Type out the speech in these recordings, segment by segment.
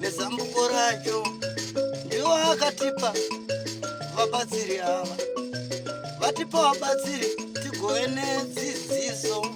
nezambuko racho ndiwo akatipa vabatsiri ava vatipa vabatsiri tigove nedzidziso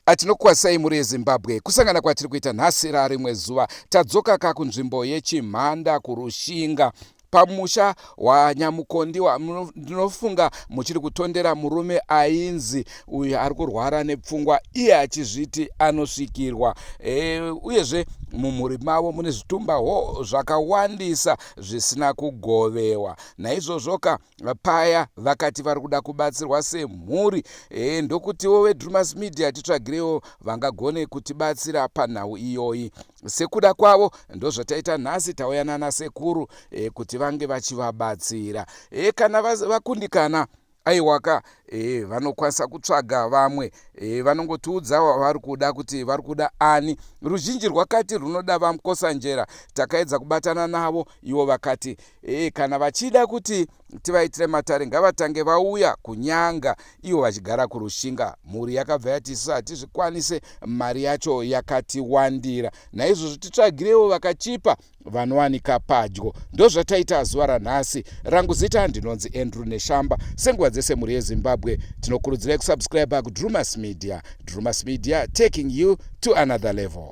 atinokwasai mhuri yezimbabwe kusangana kwatiri kuita nhasi rarimwe zuva tadzoka ka kunzvimbo yechimhanda kurushinga pamusha waNyamukondiwa ndinofunga muchiri kutondera murume ainzi uyu ari kurwara nepfungwa iye achizviti anosvikirwa e, uyezve mumhuri mavo mune zvitumba ho zvakawandisa zvisina kugovewa naizvozvoka paya vakati vari kuda kubatsirwa semhuri e, ndokutiwo vedrumas media titsvagirewo vangagone kutibatsira panhau iyoyi sekuda kwavo ndozvataita nhasi tauya nana sekuru e, kuti vange vachivabatsira e, kana vakundikana va aiwaka e, vanokwanisa kutsvaga vamwe e, vanongotiudza wavari kuda kuti vari kuda ani ruzhinji rwakati runoda vamukosanjera takaedza kubatana navo ivo vakati e, kana vachida kuti tivaitire matare ngavatange vauya kunyanga ivo vachigara kurushinga mhuri yakabva yati isu hatizvikwanise mari yacho yakatiwandira naizvozvo titsvagirewo vakachipa vanowanika padyo ndozvataita zuva ranhasi rangu zita ndinonzi andrew neshamba senguva dzese mhuri yezimbabwe tinokurudzirai kusubscribe kudrumas media drumas media taking you to another level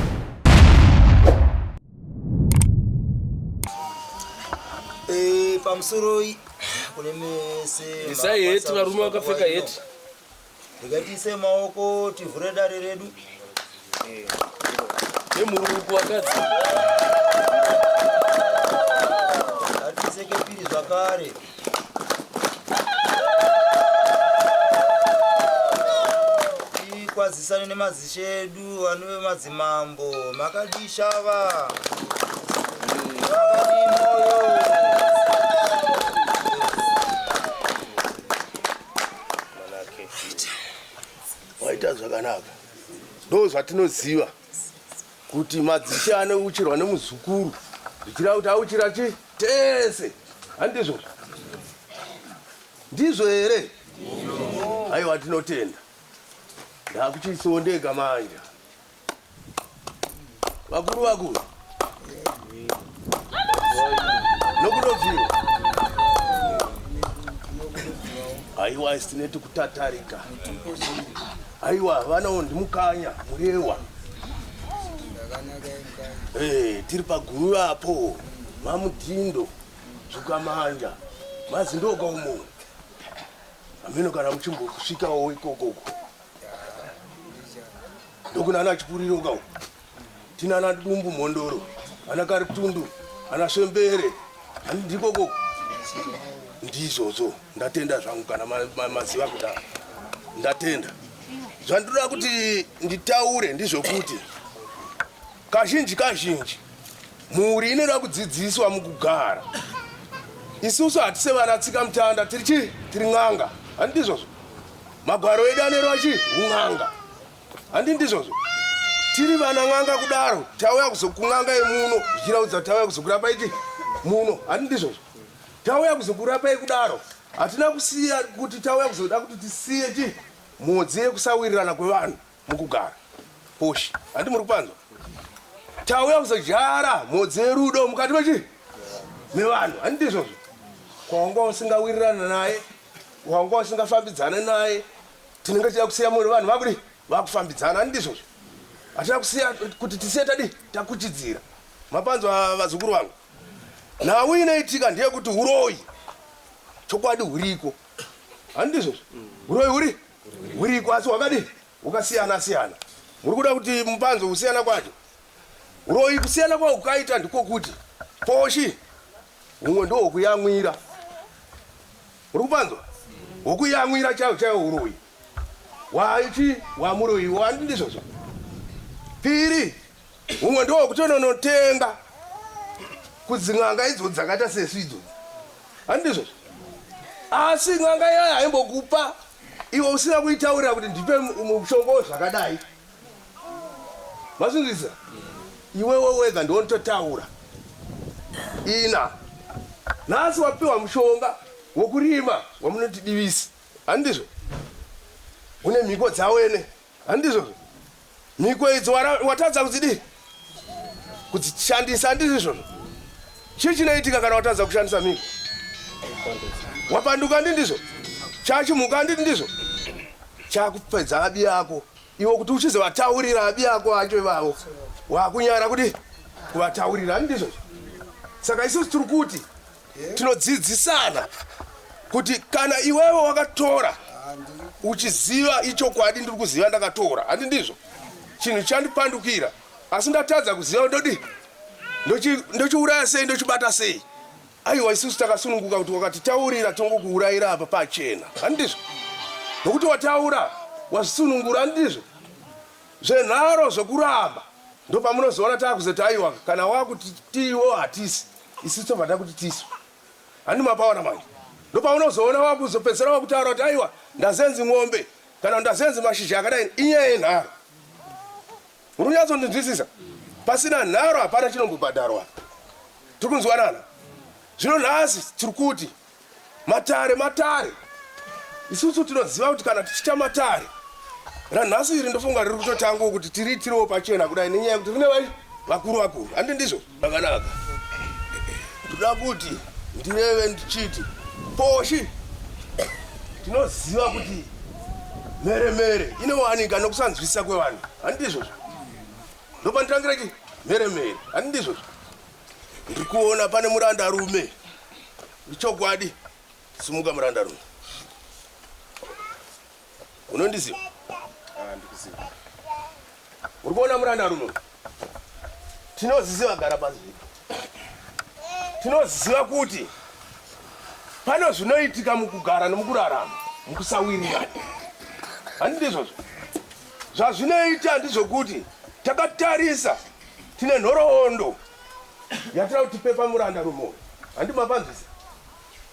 Eh, pamusoroi kune mese isai heti varume vakapfeka heti ndikatiise maoko tivhure dare redu nemurungu wakadzi atiise kepiri zvakare tikwazisane nemazishe edu vanove madzimambo makadii shava makadii moyo waita zvakanaka ndo zvatinoziva kuti madzishe anouchirwa nemuzukuru zvichira kuti auchira chi tese handizvo ndizvo here aiwa tinotenda ndakuchisondeka manja vakuru vakuru aiwa isineti kutatarika aiwa vanawo ndimukanya murewa hey, eh, tiri paguru apo mamudhindo zvukamanja mazindoka umo ameno kana muchimbokusvikawo ikokoko ndokunana chipuriro kau tinana dumbu mhondoro ana karitundu ana shembere handikoko ndizvozvo ndatenda zvangu kana maziva ma, ma, kudaro ndatenda zvandiroda kuti nditaure ndizvokuti kazhinji kazhinji mhuri inoda kudzidziswa mukugara isusu hatise vana tsika mutanda tiri chii tiri n'anga handidizvozvo magwaro edu anerwa chii un'anga handi ndizvozvo tiri vana n'anga kudaro tauya kuzokun'anga yemuno zvichiraudza tauya kuzokurapai ti muno handi ndizvozvo tauya kuzokurapai kudaro hatina kusiya kuti tauya kuzoda kuti tisiye ti mhodzi yekusawirirana kwevanhu mukugara poshi handi muri kupanzwa tauya kuzodyara mhodzi yerudo mukati mechi mevanhu handi ndizvozvo kwawanga usingawirirana naye wanga usingafambidzane naye tinenge tichida kusiya mune vanhu vakudi vakufambidzana ani ndizvozvo hatina kusiya kuti tisiye tadi takuchidzira mapanzwa vazukuru vangu nhau inoitika ndeyekuti uroyi chokwadi huriko ani ndizvozvo uroyi huri huriko asi hwakadi hukasiyana siyana muri kuda kuti mupanzwa kusiyana kwacho uroyi kusiyana kwao kukaita ndikokuti poshi humwe ndohwokuyamwira Uri kupanzwa? Huku yamwira chaiwo chaiwo uroyi. Waiti wamuroyi iwe wandi ndizvozvo. Piri umwe ndo kutononotenga kudzin'anga idzo dzakaita sesu idzodzi. Handi ndizvozvo? Asi n'anga yaya haimbokupa iwe usina kuitaurira kuti ndipe mushongo zvakadai. mazvinzwisa iwewe wega ndiontotaura ina nhasi wapiwa mushonga wokurima wamunoti divisi handizvo une mhiko dzawene handizvo mhiko idzo watadza kudzidii kudzishandisa handizvo izvozvo chii chinoitika kana watadza kushandisa mhiko wapanduka ndi ndizvo chachimhuka ndi ndizvo chakupedza abi yako Iwe kuti uchizovataurira abi ako acho ivavo wakunyara kuti kuvataurira ani ndizvo saka isusu tiri kuti tinodzidzisana kuti kana iwewe wakatora uchiziva ichokwadi ndiri kuziva ndakatora handi ndizvo chinhu chandipandukira asi ndatadza kuziva ndodi ndochiuraya sei ndochibata sei Aiwa isusu takasununguka kuti wakatitaurira tongokuurayira apa pachena handizvo nokuti wataura wazvisunungura handizvo zvenharo zvokuramba ndopamunozoona taakuzoti aiwa kana wakuti tiiwo hatisi isusu tobva takuti tisu handi mapaona manje ndopaunozoona wakuzopedzisira wakutaura kuti aiwa ndazenzi ng'ombe kana ndazenzi mashizha akadai inyaya yenharo Muri kunyatsondinzwisisa? Pasina nharo hapana chinombobhadharwa apa. Tiri kunzwanana? Zvino nhasi tiri kuti matare matare. Isusu tinoziva kuti kana tichita matare ranhasi iri ndofunga riri kutotangwa kuti tiriitirewo pachena kudai nenyaya yekuti rine vai vakuru vakuru handi ndizvo Zvakanaka. Ndoda kuti ndireve ndichiti poshi tinoziva kuti mhere mhere inowanika nokusanzwisisa kwevanhu. Handizvo zva. Ndopandirangira chi mhere mhere. Handizvo zva. Ndiri kuona pane muranda rume. Ichokwadi. Simuka muranda rume. Unondiziva? Ah, ndikuziva. Uri kuona muranda runo? Tinoziziva gara pasi. Tinoziziva kuti pano zvinoitika mukugara nomukurarama, mukusawirirana. Handiti izvozvo? Zvazvinoita ndizvokuti takatarisa tine nhoroondo yatira kuti pepa muranda rumo. Handi mapanzvisa?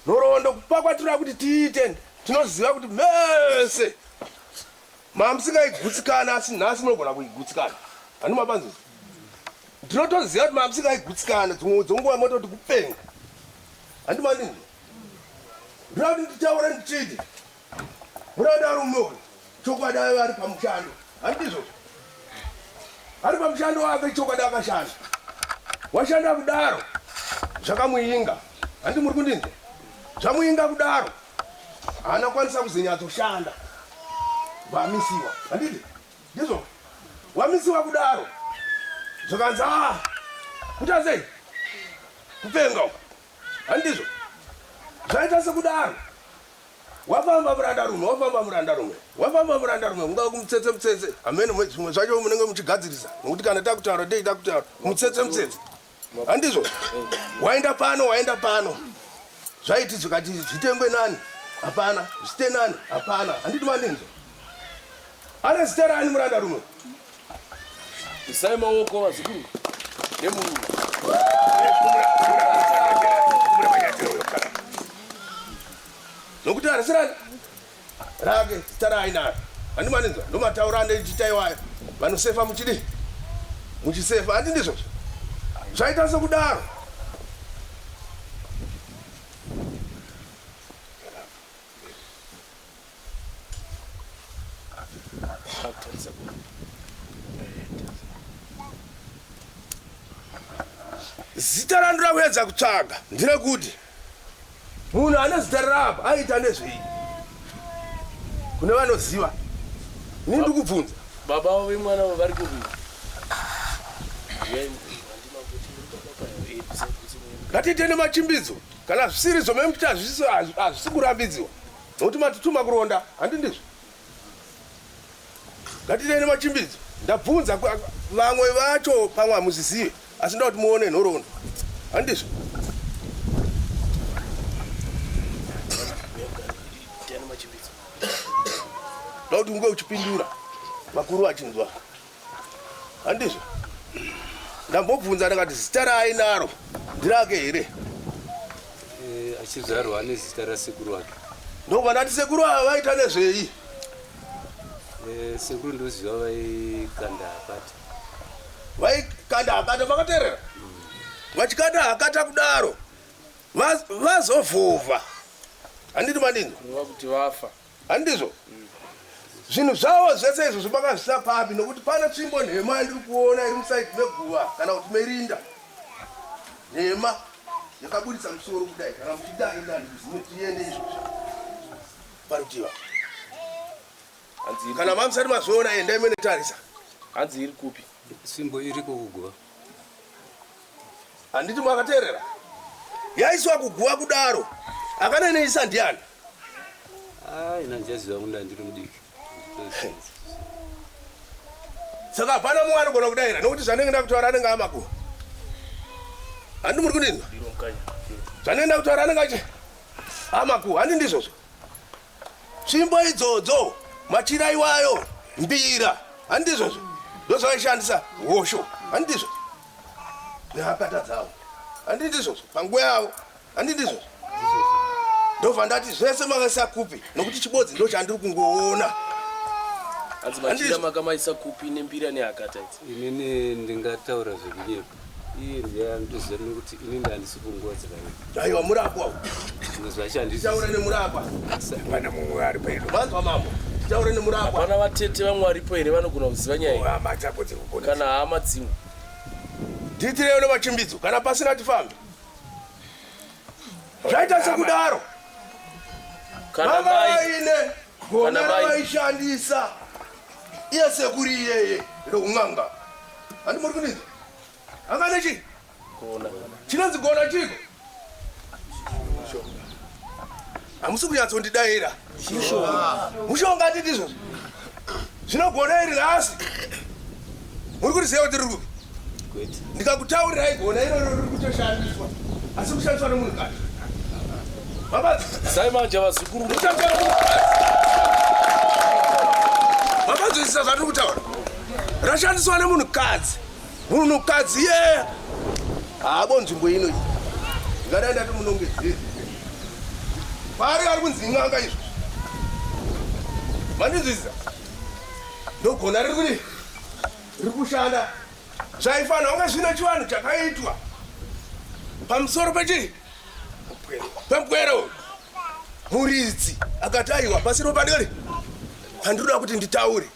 Nhoroondo kupa kwatira kuti tiite tinoziva kuti mese mamusingaigutsikana asi nhasi munogona kuigutsikana handi mabanzi ndinotoziva kuti mamusingaigutsikana dzimwe dzonguva mototi kupenga handi mandini ndinoda kuti nditaure ndichiti muranda rume uyu Chokwadi aive ari pamushando, handizvo? Ari pamushando wake, chokwadi akashanda. Washanda kudaro, zvakamuinga. Handi muri kundinzwa? Zvamuinga kudaro, haana kwanisa kuzonyatsoshanda. Vamisiwa, handiti? Ndizvo? Wamisiwa kudaro, zvakanzi a ah, kuta sei? Kupenga uko, handizvo? Zvaita sekudaro, Wafamba murandarume, wafamba murandarume, wafamba murandarume, mungava kumutsetse mutsetse, hameno mwe zvimwe zvacho munenge muchigadzirisa, nokuti kana takutaura dei takutaura mutsetse mutsetse, handizvo? Waenda pano, waenda pano, zvaiti zvikati zvitengwe nani? Hapana, zvite nani? Hapana, handiti mandinzwa? Ane zita rani murandarume? Isai maoko vazukuru nemurume. Nokuti harisi rake rake zita raainaro handi maninzwa ndomataura andichita iwayo vanosefa muchidi muchisefa handi ndizvozvo zvaita sekudaro zita randira kuedza kutsvaga ndirekuti munhu ane zita rarapa aita nezvei kune vanoziva ini ndikubvunza baba vo vemwana vo vari kuvi ngatiite nemachimbidzo kana zvisiri zvomemuti hazvisi kurambidziwa Nokuti matituma kuronda, handi ndizvo? Ngatiitei nemachimbidzo. Ndabvunza vamwe vacho, pamwe hamuzvizive, asi ndoda kuti muone nhoroondo, handizvo? Ndoda kuti unge uchipindura, vakuru vachinzwa. handizvo ndambobvunza ndakati zita raainaro ndirake here eh, achizvarwa ane zita rasekuru wake ndokuva ndati sekuru ava vaita nezvei eh, sekuru ndoziva vaikanda akati vaikanda akati vakaterera vachikanda akata kudaro vazovhuvha handiti manini kuti vafa Handizvo? Zvinhu zvawo zvese izvo zvibakazvisa papi nokuti pana tsvimbo nhema yandiri kuona iri musaidi meguva kana kuti merinda nhema yakaburitsa musoro kudai kana muchidai ndani zimutiende izvozvo parutiva hanzi kana mamusati mazviona endai mene tarisa hanzi iri kupi simbo iri kukuguva handiti mwakateerera yaiswa kuguva kudaro akaneneyisa ndiani saka hapana mumwe anogona kudaira nokuti zvanenge ndakutaura anenge amakuva handi muri kundinzwa zvanenge ndakutaura anenge achi amakuva handi ndizvozvo tsvimbo idzodzo machira iwayo mbira handi ndizvozvo ndozvavaishandisa hosho handi ndizvo Ndakata dzavo. Handi ndizvo panguva yavo. Handi ndizvo. Ndobva ndati zvese makaisa kupi nokuti chibodzi ndo chandiri kungoona. Hanzi machira makamaisa kupi nembira neakata idzi. Inini ndingataura zvekunyepa. Iye ndiye andiziva nokuti ini ndandisi kungodzera. Aiwa murapwa uyu. Taura nemurapwa. Pana mumwe ari pedo. Vanzwa mambo. Taura nemurapwa. Pana vatete vamwe varipo here vanogona kuziva nyaya iyi. Hama dzako dziri kugona. Kana hama dzimwe. Ndiitirewo nemachimbidzo kana pasina tifambe. Zvaita sekudaro. Kana mai ine gona ravaishandisa iye sekuri iyeye roun'anga. Handi muri kunizwa? Angane chii? Gona. Chinonzi gona chiko? Hamusi kunyatsondidaira. Mushonga atiti izvozvo. Zvinogona iri nhasi. Muri kuti zero tiri kupi? Ndikakutaurirai gona iro riri kutoshandiswa. Asi kushandiswa nemunhu kati. Mabati. Sai manje vazukuru. Kushandiswa nemunhu kati. Mabati zvisizvo zvatiri kutaura. Rashandiswa nemunhu kadzi. Munhukadzi yeye haabo nzvimbo ino iyi. Ngadai ndati munongedzere. Paari ari kunzi n'anga izvo. Mandinzwisisa? Ndogona riri kuri riri kushanda zvaifanira kunge zvine chivanhu chakaitwa pamusoro pechii pempwere uyu muridzi akati aiwa pasiro padori pandinoda kuti nditaure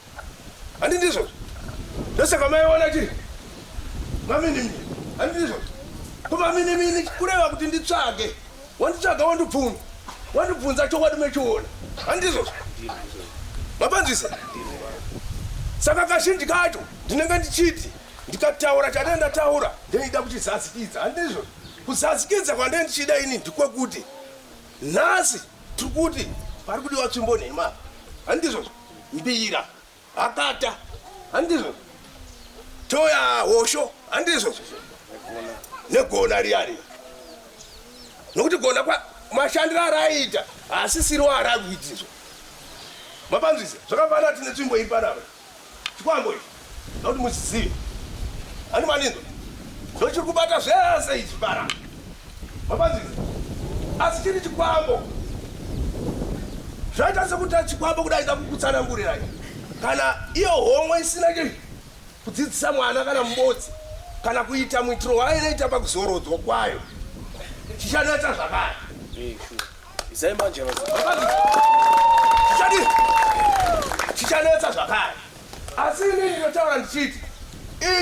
Handi ndizvo. Ndosaka maiona chiri. Mami ndimi. Handi ndizvo. Kuma mini mini kureva kuti nditsvage. Wanditsvaga wandibvunza. Wandibvunza chokwadi mechiona. Handi ndizvo. Mapanzisa. Saka kazhinji kacho ndinenge ndichiti ndikataura chandee ndataura ndeida kuchizazikidza handizvo kuzazikidza kwandee ndichida ini ndikwekuti nhasi tiri kuti pari kudiwa tsvimbo nhema handizvozvo mbira hakata handizvo toya hosho handizvo negona riya riya nokuti gona mashandiro araiita haasisiro arakuitizvo mapanzvisa zvakafanira tine tsvimbo iparava chikwambo ichi Ndoda kuti muchizive. Ani maninzo. Ndochiri kubata zvese ichi bara. Mapanzizi. Asi chiri chikwambo. Zvaita sekuti chikwambo kudai ndakukutsanangurira. Kana iyo homwe isina chii kudzidzisa mwana kana mubodzi kana kuita muitiro wainoita pakuzorodzwa kwayo chichanetsa zvakare izai manje chichanetsa zvakare Asi ini ndinotaura ndichiti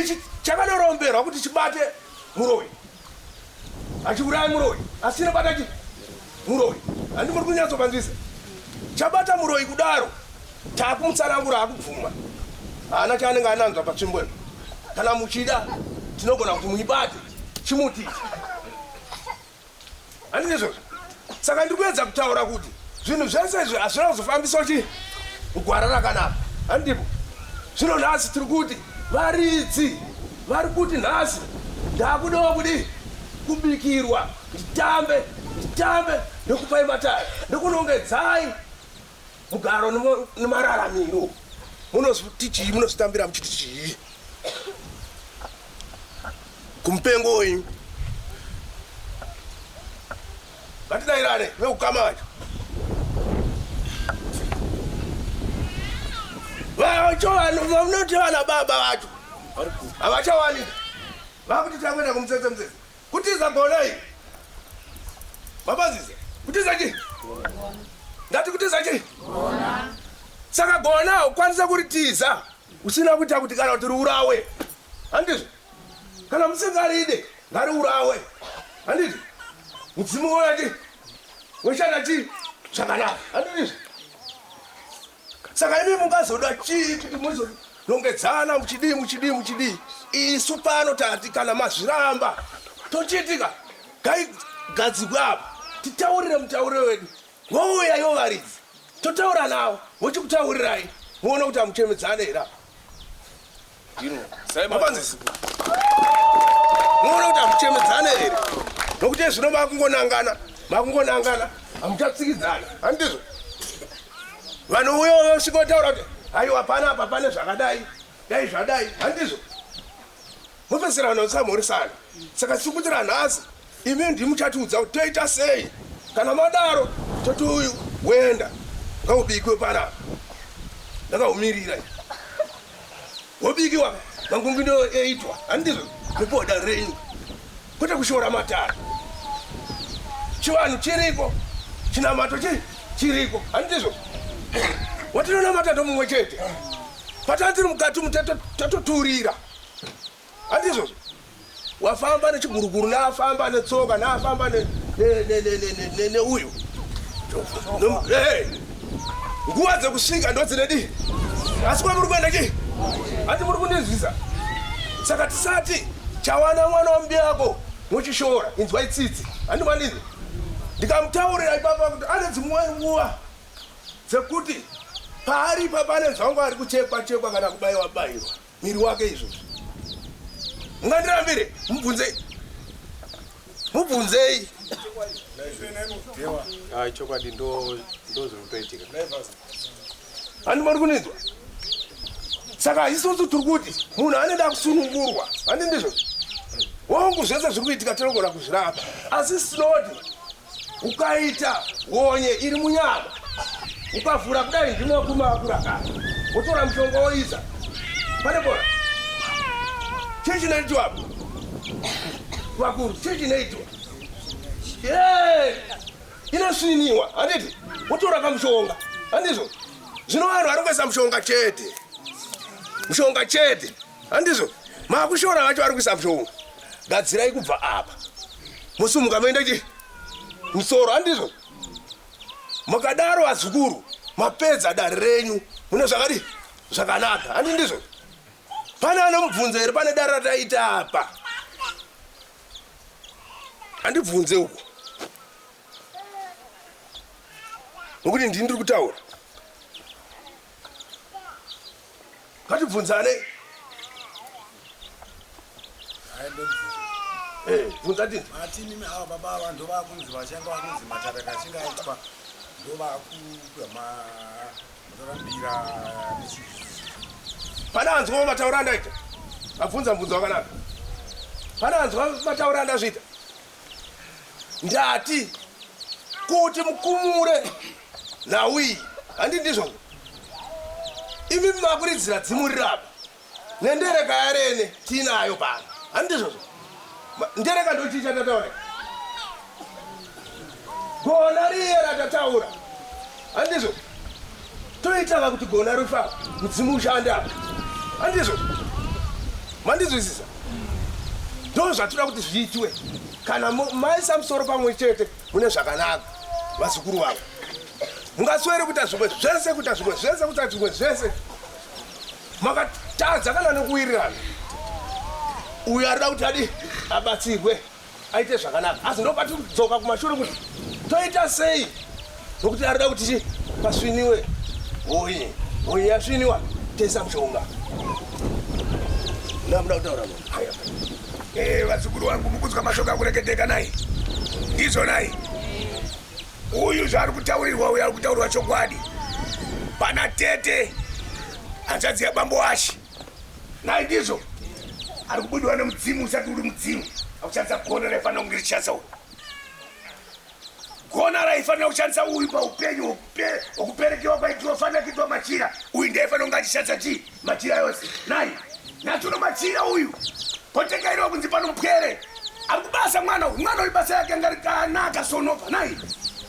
ichi chakanoromberwa kuti chibate muroi hachiurayi muroi asi chinobata chi muroi handi muri kunyatsopanzisa chabata muroi kudaro takumutsanangura akubvuma haana chaanenge ananzva patsvimbo ino kana muchida tinogona kuti muibate chimuti ichi Handizvo saka ndiri kuedza kutaura kuti zvinhu zvese izvi hazvina kuzofambiswa chii mugwara rakanaka handipo zvino nhasi tiri kuti varidzi vari kuti nhasi ndakudawo kudii kubikirwa nditambe nditambe nekupai mataya nekunongedzai Mugaro nemararamiro munozviti chii? Munozvitambira muchiti chii? Kumupengo wenyu ngatidairane veukama vacho vacho vanoti vana baba vacho havachawanika vakuti takuenda kumutsetse mutsetse Kutiza gonai. Mabazize. Kutiza chi? Ndati kutiza chi? Gona. Saka gona ukwanisa kuritiza usina kuita kuti kana kuti riurawe. Handizvo? Kana musingaride ngariurawe. Handizvo? Mudzimu woya chi? Woshanda chi? Zvakanaka. Handizvo? Saka imi mungazoda chii kuti muzorongedzana muchidii muchidii muchidii? Isu pano tati kana mazviramba tochiitika gaigadzigwa apa titaurire mutauriro wedu wouya yo varidzi totaura navo vochikutaurirai muona kuti hamuchemedzane here apa muona kuti hamuchemedzane here nokuti ezvino makungonangana makungonangana hamuchatsikidzana handizvo vanouya vasvikotaura kuti haiwa pana apa pane zvakadai dai zvadai handizvo mopedzisira vanhu vasamhorisana saka sikuitira nhasi Imi ndimi muchatiudza kuti toita sei. Kana madaro toti uyu woenda ngaubikwe panapa. Ndakaumirira ini. Wobikiwa mangungu ndiwo eitwa handizvo mupoda renyu kwete kushora matare. Chivanhu chiriko chinamato chii chiriko handizvo watinonamata ndomumwe chete patanga tiri mukati umu tato- tatoturira Handizvo? Wafamba nechiguruguru naafamba netsoka naafamba ne ne ne ne ne ne ne uyu. Nom- Hey! Nguva dzekusvika ndodzine dii. Asi kwa muri kuenda chii? Hati muri kundinzwisa. Saka tisati chawana mwana wambi yako mochishora inzwa itsitsi. Handi mandinzwa. Ndikamutaurira ipapa kuti ane dzimwe nguva dzekuti paari ipapa anenzwa wangu ari kuchekwa chekwa kana kubaiwa baiwa. Mwiri wake izvozvo. Mungandirambire, mubvunzei. Mubvunzei. Ah, chokwadi ndo ndozviri kutoitika. Ani muri kunizwa? Saka isusu tiri kuti munhu anoda kusunungurwa. Ani ndizvo. Hongu zvese zviri kuitika tinogona kuzvirapa. Asi sinodi ukaita honye iri munyama ukavhura kudai ndimo kumakura kana wotora mushonga woisa pane bora chii chinoitwa apo vakuru chii chinoitwa inosviniwa handiti wotora kamushonga handizvo zvino vanhu vari kuisa mushonga chete mushonga chete Handizvo makushora vacho vari kuisa mhlowo. Gadzirai kubva apa. Musumuka moenda chi musoro handizvo. Mukadaro vazukuru mapedza dare renyu mune zvakadi zvakanaka handi ndizvo. Pane anomubvunza here pane dare rataita apa. Handibvunze uko. Nokuti ndini ndiri kutaura. ngatibvunzanei eh, bvunza tinzi mati mimi ava baba ava ndovakunzi vachanga vakunzi matare kachinga aitwa ndovakupa matorambira pane anzwa mataura andaita abvunza mbvunzo wakanaka pane anzwa mataura andazviita ndati kuti mukumure nhau iyi handi ndizvo imi makuridzira dzimu rirapa nendereka yarene tiinayo pano handi ndizvozvo ndereka ndochii chatataura gona riye ratataura Andizvo. Toita vakuti gona rufa mudzimu ushanda. Andizvo. Mandizwisisa. Ndoo zvatira kuti zviitwe. Kana maisa musoro pamwe chete mune zvakanaka vazukuru vavo. Mungaswere kuita zvimwe zvese kuita zvimwe zvese kuita zvimwe zvese. Makatadza kana nekuwirirana. Uyo arida kuti adi abatsirwe. aite zvakanaka asi ndopati kudzoka kumashure kuti toita sei nokuti arida kuti chi pasviniwe hoyi hoyi yasviniwa tesa mushonga ndamuda kutaura aya eh, vazukuru wangu mukunzwa mashoko akureketeka nai ndizvo nai uyu zvaari kutaurirwa uyu ari kutaurirwa chokwadi pana tete hanzvadzi yabambo washi nhai ndizvo ari kubudiwa nemudzimu usati uri mudzimu akuchandisa gona raifanira kunge richishandisa uyu gona raifanira kushandisa uyu paupenyu okuperekewa kwaitiwa fanira kuitwa machira uyu ndaifanira kunge achishandisa chii machira yose nai natuno machira uyu kotengairiwa kunzi pano mpwere ari kubasa mwana uyu mwana uyu basa yake ngarikanaka sonova nai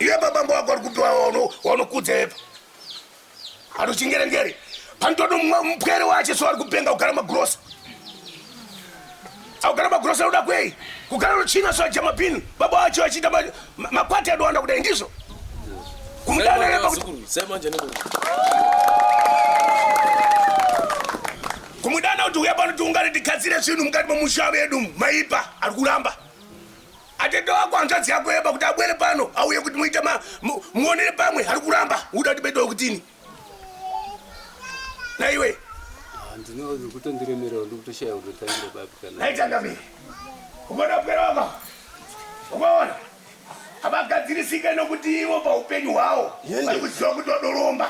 Iye babambo wako ari kupi waunokudza yepa anochingerengere panotoda mupwere wache so ari kupenga kugara magrosa akugara magrosa anoda kwei kugara nochina so aja mapini baba wacho achiita makwati adowanda kudai ndizvo kumudana yepa kuti kumudana kuti uya pano tiungane tigadzire zvinhu mukati momusha vedu maipa ari kuramba atete wako hanzvadzi yako yeba kuti abwere pano auye kuti muite ma mu- muonere pamwe ari kuramba uda kuti bedo kutini naiwe handino ndikutondiremerera ndikutoshaya kutotangira papi kana naitangami ukaona kupera waka ukaona havagadzirisike nokuti ivo paupenyu hwawo vari kuziva kuti wadoromba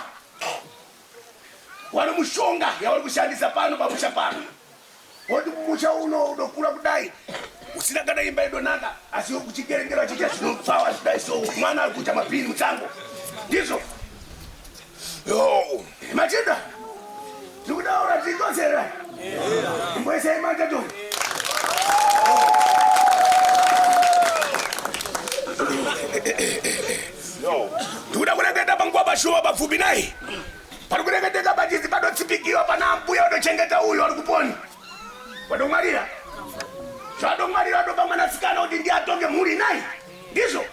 Wano mushonga yauri kushandisa pano pamusha pano woti musha uno unokura kudai usina kana imba idonaka asi kuchikerengera achiita zvinopfawa zvidai so mwana ari kuita mapini mutsango ndizvo machinda ndikudaura tikoserera imboisai matato ndikuda kureketa panguva pashuva papfupi nai pari kureketeka pachizi patotsipikiwa pana ambuya vatochengeta uyu ari kuponi vatongwarira zvatongwarira vatopa mwanasikana kuti ndi atonge mhuri nai ndizvo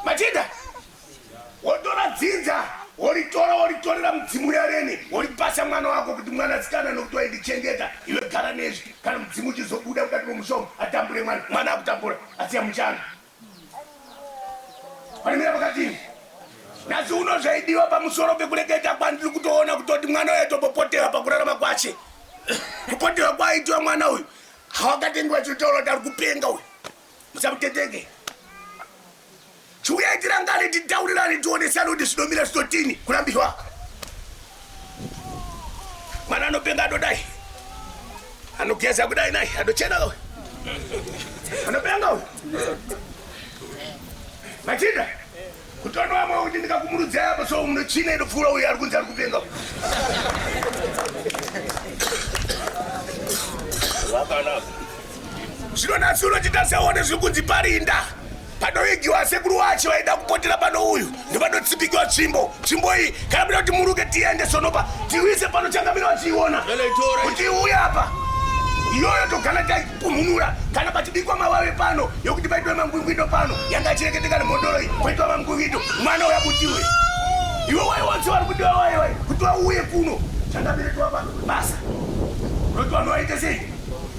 machinda wotora dzinza woritora woritorera mudzimu uyareni woripasa mwana wako kuti mwanasikana nokuti waindichengeta iwe gara nezvi kana mudzimu uchizobuda kudati momushoma atambure mwana mwana akutambura asiya muchanga Panemira pakati nhasi uno zvaidiwa pamusoro pekureketa kwandiri kutoona kutoti mwana uyo atopopotewa pakurarama kwache kupotewa kwaaitiwa mwana uyu hawakatengiwa chitotaura kuti ari kupenga uyu musamuteteke chiuyai tirangane titaurirane tionesane kuti zvinomira zvitotini kurambirwa mwana anopenga adodai anogeza kudai nai adochena uyu anopenga uyu machinda kutono vamwe kuti ndikakumurudzai apo so muno china inopfuura uyu ari kunzi ari kupenga vakanaka zvino nasi unochita seone zviri kunzi parinda panoigiwa sekuru wacho vaida kupotera pano uyu ndopanotsipikiwa tsvimbo tsvimbo iyi kana kuda kuti muruke tiende sonopa tiwise pano changamira vachiiona kuti iuye apa iyoyo togana taipununura kana pachibikwa mavave pano yokuti paitwa mangwingwido pano yanga achireketeka nemhodoro iyi kwaitwa mangwingwido mwana uya kuti iwe iwe wai wanzi vari kudiwa wai wai kuti wauye kuno changamire tiwapa basa roti vanhu vaite sei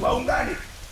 vaungane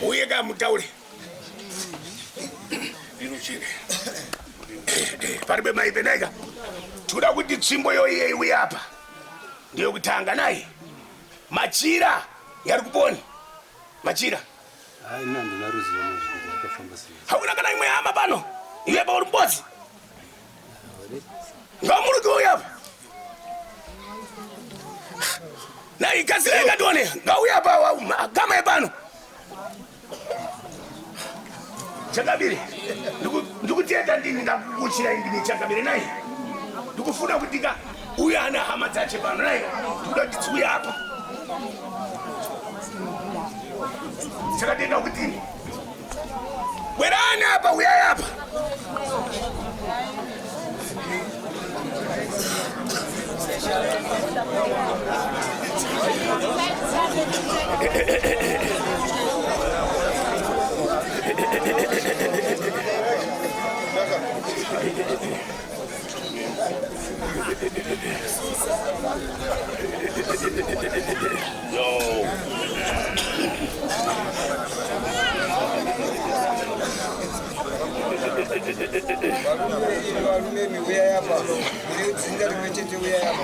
Muye ka mutaure. Inocheka. Paribe mai Benega. Tikuda kuti tsvimbo yoiye iwe apa. Ndiyo kutanga naye. Machira yari kuponi. Machira. Hai nandi naruziva nezvinhu zvakafamba sei. Hauna kana imwe hama pano. Iwe pauri mbodzi. Ngamuri kuuya apa. Na ikasira ikatone. Ngauya apa wa kama yepano. Chakabiri. Ndiku ndikutenda ndini ndakukuchira ndini chakabiri nai. Ndikufuna kutika uya ana hama dzache pano nai. Ndoda tikuya apa. Chakatenda kuti Bwerani apa, uyai apa.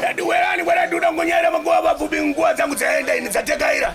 Dadiwerani bwana duda ngonyera magoa vapfupi nguva dzangu dzaenda ini dzatekaira.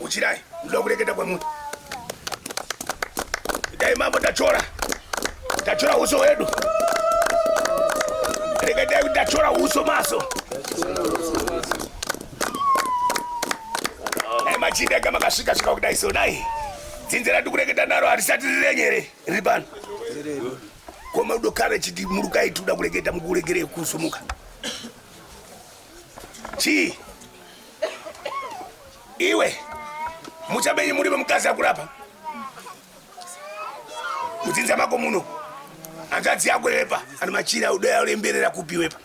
Uchirai, ndoda kureketa kwamuri. Dai mambo tachora. Tachora uso wedu. Reketai kuti tachora uso maso. Dai machinda anga makasvika svika kudai so dai. Dzinze rati kureketa naro harisati rirenyere riri pano. Koma udokare chiti murukai tuda kureketa mukuregerei kusumuka. chii iwe muchabenyi muri vemukadzi akurapa mudzinza mako muno hanzvadzi yako yepa ano machira udoya ulemberera kupi wepa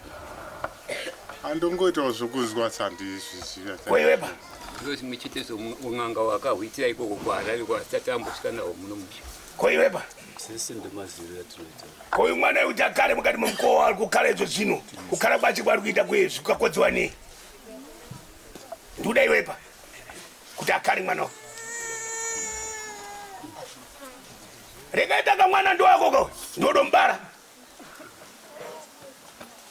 andongoitawo zvokuzwa sandizvizivakoiwepa ndozi muchitezo un'anga wakahwitira ikoko kwaarari kwasati ambosvika nawo muno muchi koiwepa sese ndemaziviro atinoita ko uyu mwana yekuti akare mukati momukowa ari kukara izvo zvino kukara kwacho kwaari kuita kwezvi kukakodziwa nei ndikuda iwepa kuti akare mwana wa rekaita ka mwana ndowakoka ndodombara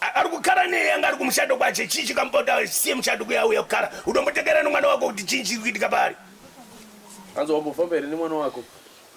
ari kukara nei anga ari kumushado kwache chii chikamupota siye mushado kuyauya kukara udombotekera nemwana wako kuti chii chiri kuitika paari anzi wambofamba here nemwana wako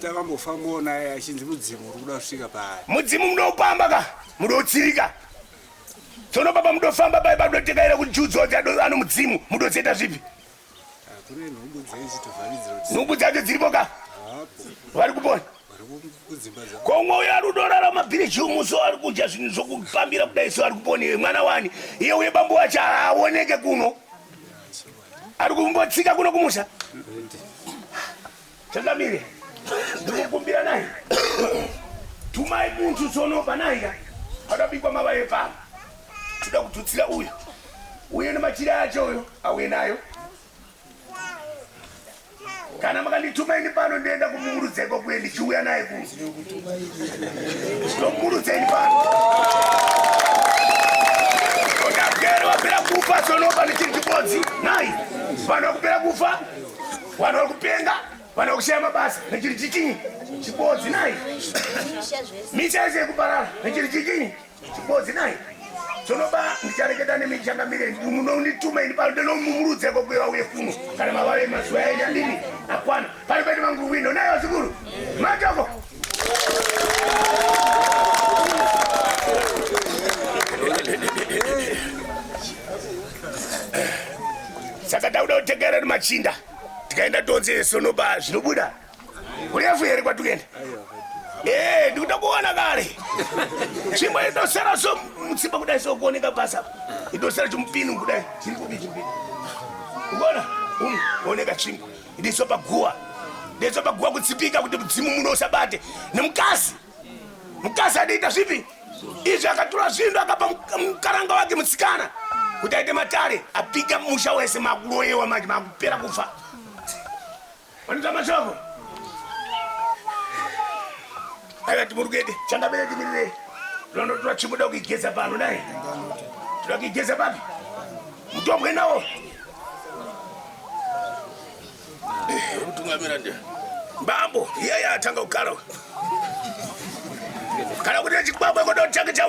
takambofambawo naye achinzi mudzimu uri kuda kusvika paari mudzimu munopamba ka mudotsirika tsono baba mudofamba pai padotekaira kuti judzodzi ano mudzimu mudotseta zvipi nhumbu dzacho dziripo ka vari kupona komwe uyo ari kudorara mabhiriji umuso ari kudya zvinhu zvokupambira kudai so ari kupona iwe mwana wani iye uye bambo wacho haaoneke kuno Ari kumbotsika kuno kumusha. Changamire. Ndikukumbira naye. Tumai muntu tsono panaika. Akabikwa mavaye pa. Tuda kututsira uyu. Uye nemachira acho uyo auye nayo. kana makandituma ini pano ndoenda kumurudza ikoko ndichiuya naye ku ndomurudza ini pano ndagere wapera kufa sonoba ndichiri chibodzi nai vanhu vakupera kufa vanhu vari kupenga vanhu vakushaya mabasa ndichiri chichinyi chibodzi nai misha yese yekuparara ndichiri chichinyi Chibozi naye sonoba ndichareketa nemi ndichangamire munondituma ini pano ndonomumurudzeko kuye vauye kuno kana mavave mazuva yaenda ndini akwana pano pete vangu wino naye vazukuru matoko saka tauda kutegerera machinda tikaenda tonzi sonoba zvinobuda Urefu here kwatukenda? Eh, ndikuda kuona kare. Chimwe idosera so mutsimba kudai so kuoneka basa. Idosera chimupini kudai. Chiri kubi chimupini. Unaona? Um, oneka chimwe. Ndiso paguwa. Ndiso paguwa kutsipika kuti mudzimu muno usabate. Nemkazi. Mkazi adiita zvipi? Izvi akatura zvinhu akapa mkaranga wake mutsikana. Kuti aite matare, apika musha wese makuroyewa manje makupera kufa. Vanita mashoko. Aya timurugede changa bere timirire. Londo tura chimuda kugeza pano dai. Tura kugeza papi? Mutobwe nawo. Rutungamira ndia. Bambo, yeye atanga ukalo. Kana kuti chikwabwe kodo chake cha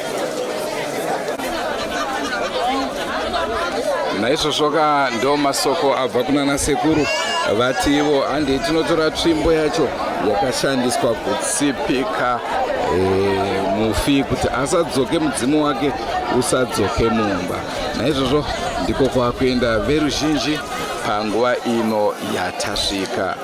naizvozvoka ndo masoko abva kunana sekuru vativo handei tinotora tsvimbo yacho yakashandiswa kutsipika eh, mufi kuti asadzoke mudzimu wake usadzoke mumba naizvozvo ndiko kwakuenda veruzhinji panguva ino yatasvika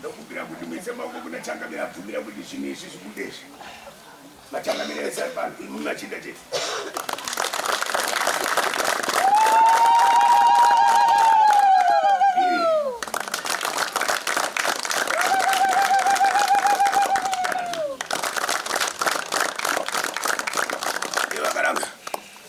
ndokumbira kuti muise maoko kuna changamire abvumira kuti zvinhu izvi zvibudezvi machangamire vese ari pano imumi machinda chete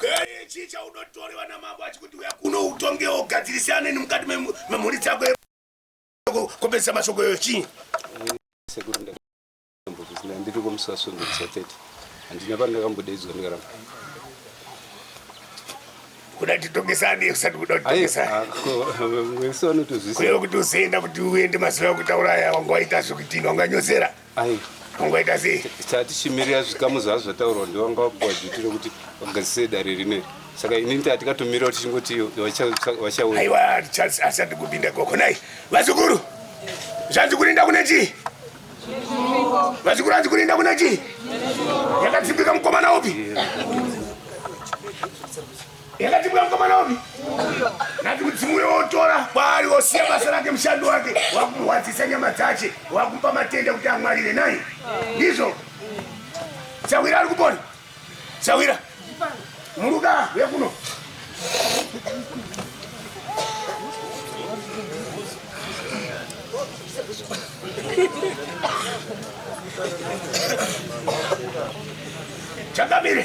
Hey, chii chaunotorewa namambo achikuti uya kuno utongewo ugadzirisane nemukati memhuri dzako kopedzisa mashoko yoyo chii ndiri kumusasvondo kusatete handina pandakambodaidzwa ndikaramba kuda titongesane usati kuda kutitongesanewesoanotozvisiakuti uzoenda kuti uende mazuva ekutaura aya wanga waita zvekutini wanganyozera Ai. Kungoita sei? Tatichimirira zvikamu zvazvo zvataurwa ndiwanga wapuwa duty rekuti vagadzise dare rineri. Saka inini tatikatomira kuti chingoti vachauya. Aiwa Charles asati kupinda koko nai. Vazukuru. Zvanzi kurinda kune chii? Vazukuru anzi kurinda kune chii? Yakatsimbika mukomana upi? yakati mwana mwanaomi nati mudzimu uyo wotora kwaari wosiya basa rake mushando wake wakumurwadzisa nyama dzache wakumupa matenda kuti amwarire nai ndizvo sawira ari kupona sawira muruka wekuno Changamire.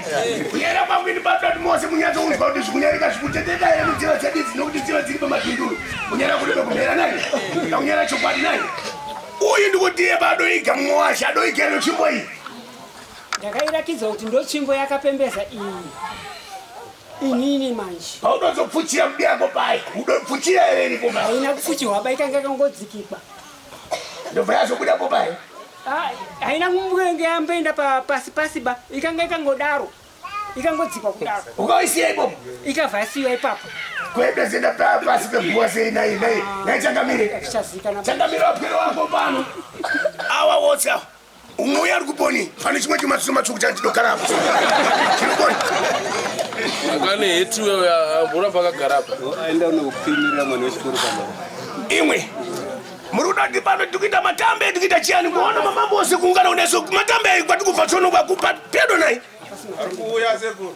kunyara kwangu ini batatu mose munyatsounzwa kuti zvikunyarika zvikuteteka here mudziva dzedidzi nokuti dziva dziri pamapinduru kunyara kunoda kumhera naye akunyara chokwadi naye uyu ndikutiye padoiga mumwe washe adoiga ino tsvimbo iyi ndakairakidza kuti ndotsvimbo yakapembeza iyi inini manje paunozopfuchira mudi yako pai udopfuchira here iripo haina kupfuchirwa baikanga kangodzikikwa ndobva yazobuda po paye ah, haina kumbenge yamboenda pasi pasi ba ikanga ikangodaro ikangodzikwa kudaro ukaisiya ipopo ikabva yasiya ipapo kwebe zenda pa pasi peguwa sei nai nai nai changamire changamire wapwere wako pano awa wotsi awa umwe uya ari kuponi pane chimwe chimatsuro matsvuku chandinogara apo chinoponi akane heti wewe amboramba akagara apa aenda unokupfimira mwana wechikoro pama imwe muri kuda kuti pano tiri kuita matambe tiri kuita chiyani kuona mamambo ose kuungana kuneso matambe ayi kwati kubva tsono kwakupa pedo nayi ari kuuya sekuru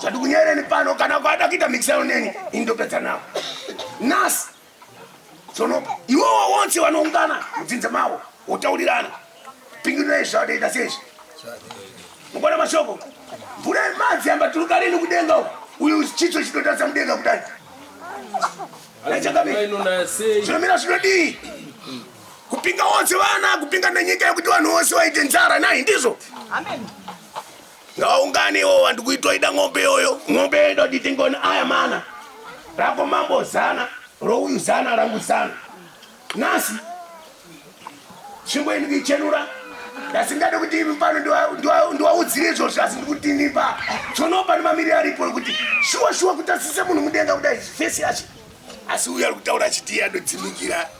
Zvatikunyereni pano kana kwada kuita mixel neni indopedza nawo. Nas sono iwowo wonse wanoungana mudzinza mawo wotaurirana pingirira izvi zvavadaita sezvi mukona mashoko mvura yemadzi yamba turuka rini kudenga uku uyu chitso chinotarisa mudenga kudai zvinomira zvinodii kupinga wonse vana kupinga nenyika yekuti vanhu vose vaite nzara nai ndizvo Amen. ngaungane iwo wandi kuitoida ng'ombe yoyo ng'ombe yoyo ndoti tingoni aya mana rako mambo zana rouyu zana rangu zana nhasi tsvimbo ini kuichenura ndasingade kuti imi pano ndiwaudzire izvozvo asi ndikuti nipa tsonopa nemamiriro aripo ekuti shuwa shuwa kuti asise munhu mudenga kudai fesi yacho asi uyo ari kutaura achiti yadodzimikira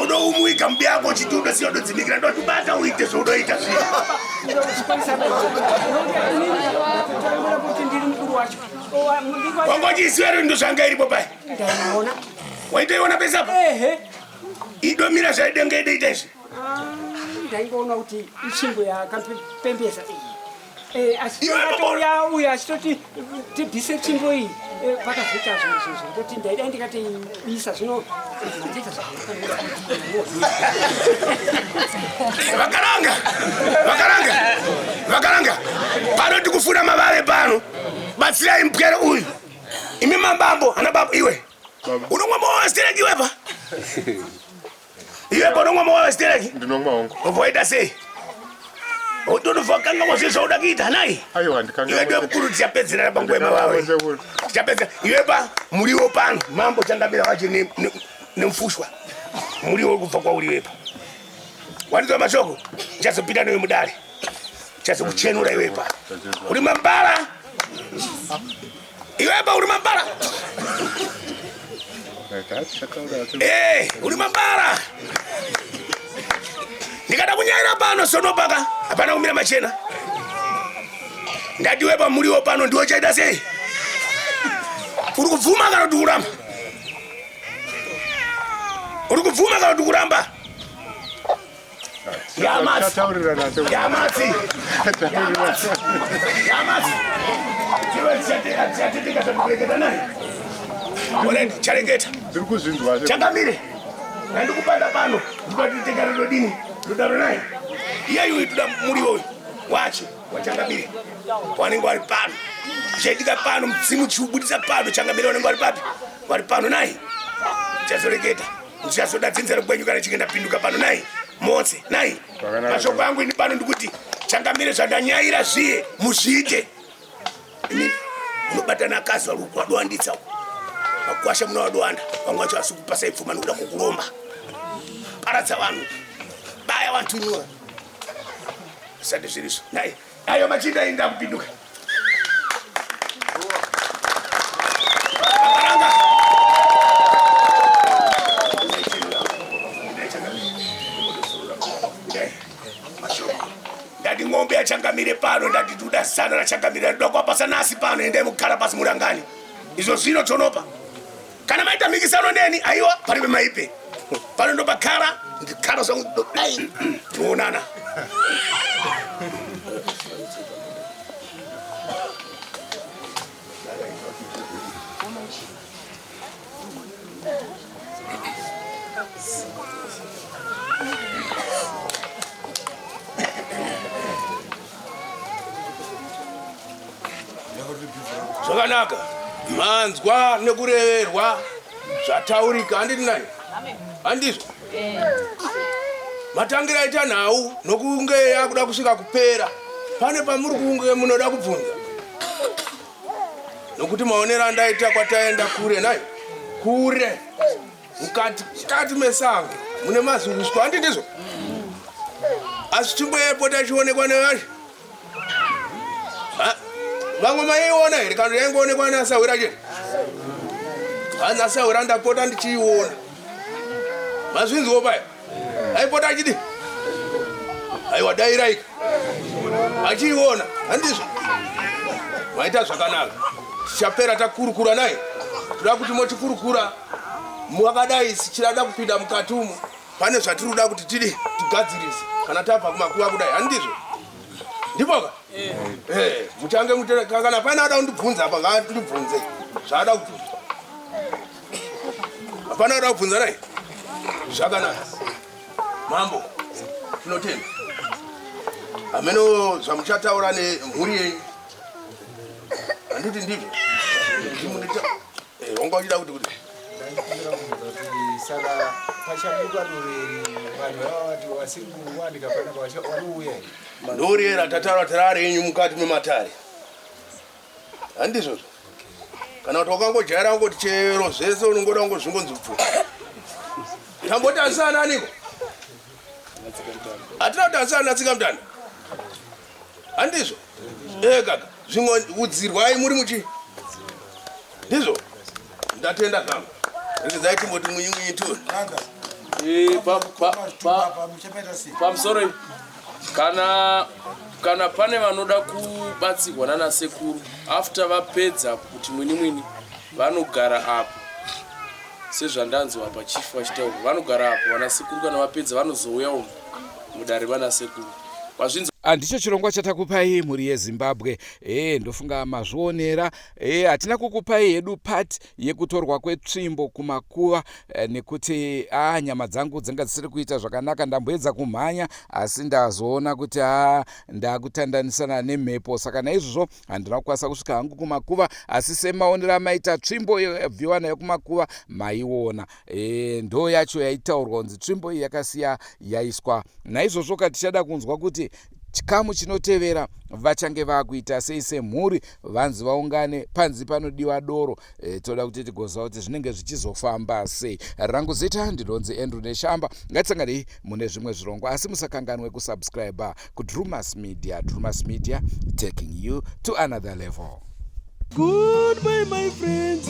unoumuika mubi yako uchiti unosiya unodzimikira ndotibata uite zvaunoita zvwangochiiswero ndo zvanga iripo pai waitoiona pese apa idomira zvaidenge ideita izvi ah, ndaingoona kuti ishingo yakapembesa iyi Eh, achitouya uyo achitoti tibvise tsvimbo iyi eh, pakazoita zvinhu zvinhu zvekutoti ndaida ndikatoibisa zvino mandiita zvakaranga vakaranga vakaranga pano tikufura mavave pano batsirai mpwere uyu imi mambambo ana baba iwe unomwa mawastereki iwepa Iwe konomwa mawawa stereki? Ndinomwa hongu. Uvoita sei? Utonofa kanga kwazve zvauda kuita nai? Aiwa handikanga. Iwe ndiwe mukuru tichapedzerera panguva yemawawe. Tichapedzera. Iwe pa muriwo pano mambo chandamira wacho nemufushwa. Muriwo uri kubva kwauri iwepa. Wanizwa mashoko? Chazopinda newe mudare. Chazokuchenura iwepa. Uri mambara. Iwe ba uri mambara. Eh, uri mambara. Ndikada kunyaira pano sono paka. Hapana kumira machena. Ndadiwe pa muriwo pano ndiwo chaita sei? Uri kubvuma kana kuti kuramba? Uri kubvuma kana kuti kuramba? chakamire andikupanda pano ndikatitenga rudo dini rudaro naye iyeyu uyu tuda muriwo uyu wacho wachangamire wanenge wari pano chaitika pano mudzimu chiubudisa pano changamire wanenge wari papi wari pano naye chazoreketa ndichazoda dzinza rekwenyu kana chinge ndapinduka pano nai motse nai mashoko angu ini pano ndikuti changamire zvandanyaira zviye muzviite ini unobatana akazwa ruku wadowanditsa uku makwasha muna wadowanda vamwe vacho asi kupasa ipfuma nikuda kukuromba paradza vanhu baya vantu nyora zvisati zvirizvo nai Ayo machinda ainge akupinduka. Ndati ng'ombe yachangamire pano ndati tuda zana rachangamire ndokwapasa nasi pano endai mugara pasi murangani izvo zvino chonopa Kana maita mikisano neni aiwa paribe maipe. Pano ndo pakara ndikara zvangu dai tinoonana. zvakanaka manzwa nekureverwa zvataurika handiti nai handizvo matangira aita nhau nokunge yakuda kusvika kupera pane pamuri kunge munoda kubvunza nokuti maonero andaita kwataenda kure nai kure mukati mukati mesango mune mazungusko handi ndizvo asi chimboyepo tachionekwa nevazhi vamwe maiona here kana yaingoonekwa neasahwira chete hanzi asahwira ndapota ndichiiona mazvinziwo paya aipota achidi aiwa dairaika achiiona handizvo maita zvakanaka tichapera takurukura naye toda kuti motikurukura mwakadai sichirada kupinda mukati umo pane zvatiri kuda kuti tidi tigadzirise kana tabva kumakuva kudai handizvo ndipoka eh. eh, muchange mutekakana paine ada kundibvunza apa ngaandibvunze zvaada kubvunza hapana kuda kubvunza nai zvakanaka mambo tinotenda hameno zvamuchataura nemhuri yenyu handiti ndizvo eh, wanga uchida kuti kuti saka pachabuka doveri vanhu vava vati vasiri kuwanika panapa vanouya ndoriera tataura tarare yenyu mukati mematare handizvozvo kana kuti wakangojaira kungoti chero zvese unongoda kungozvingonzi bvu tamboti asana aniko hatina kuti asana natsika mutanda handizvo ee kaka zvimwe udzirwai muri muchi ndizvo Ndatenda zvangu. Rekezai timboti mwinyi mwinyi tu. Eh, pa pa pa pamusoro kana kana pane vanoda kubatsirwa nana sekuru after vapedza kuti mwini mwini vanogara apo sezvandanzwa apa chief vachitaura vanogara apo vana sekuru kana vapedza vanozouya umu mudare vana sekuru vazvinzwa handicho chirongwa chatakupai mhuri yezimbabwe ee ndofunga mazvionera E, hatina kukupai hedu part yekutorwa kwetsvimbo kumakuva e, nekuti a ah, nyama dzangu dzanga dzisiri kuita zvakanaka ndamboedza kumhanya asi ndazoona kuti a ah, ndakutandanisana nemhepo saka naizvozvo handina kukwanisa kusvika hangu kumakuva asi semaonero amaita tsvimbo yabviwa nayo kumakuva maiona e, ndo yacho yaitaurwa kunzi tsvimbo iyi yakasiya yaiswa naizvozvo ka tichada kunzwa kuti chikamu chinotevera vachange vakuita sei semhuri vanzi vaungane panzi panodiwa doro e, toda kuti tigoziva kuti zvinenge zvichizofamba sei rangu zita ndinonzi andrew neshamba ngatisanganei mune zvimwe zvirongwa asi musakanganwe kusubscribe kudrumas media drumas media taking you to another level Goodbye, my friends.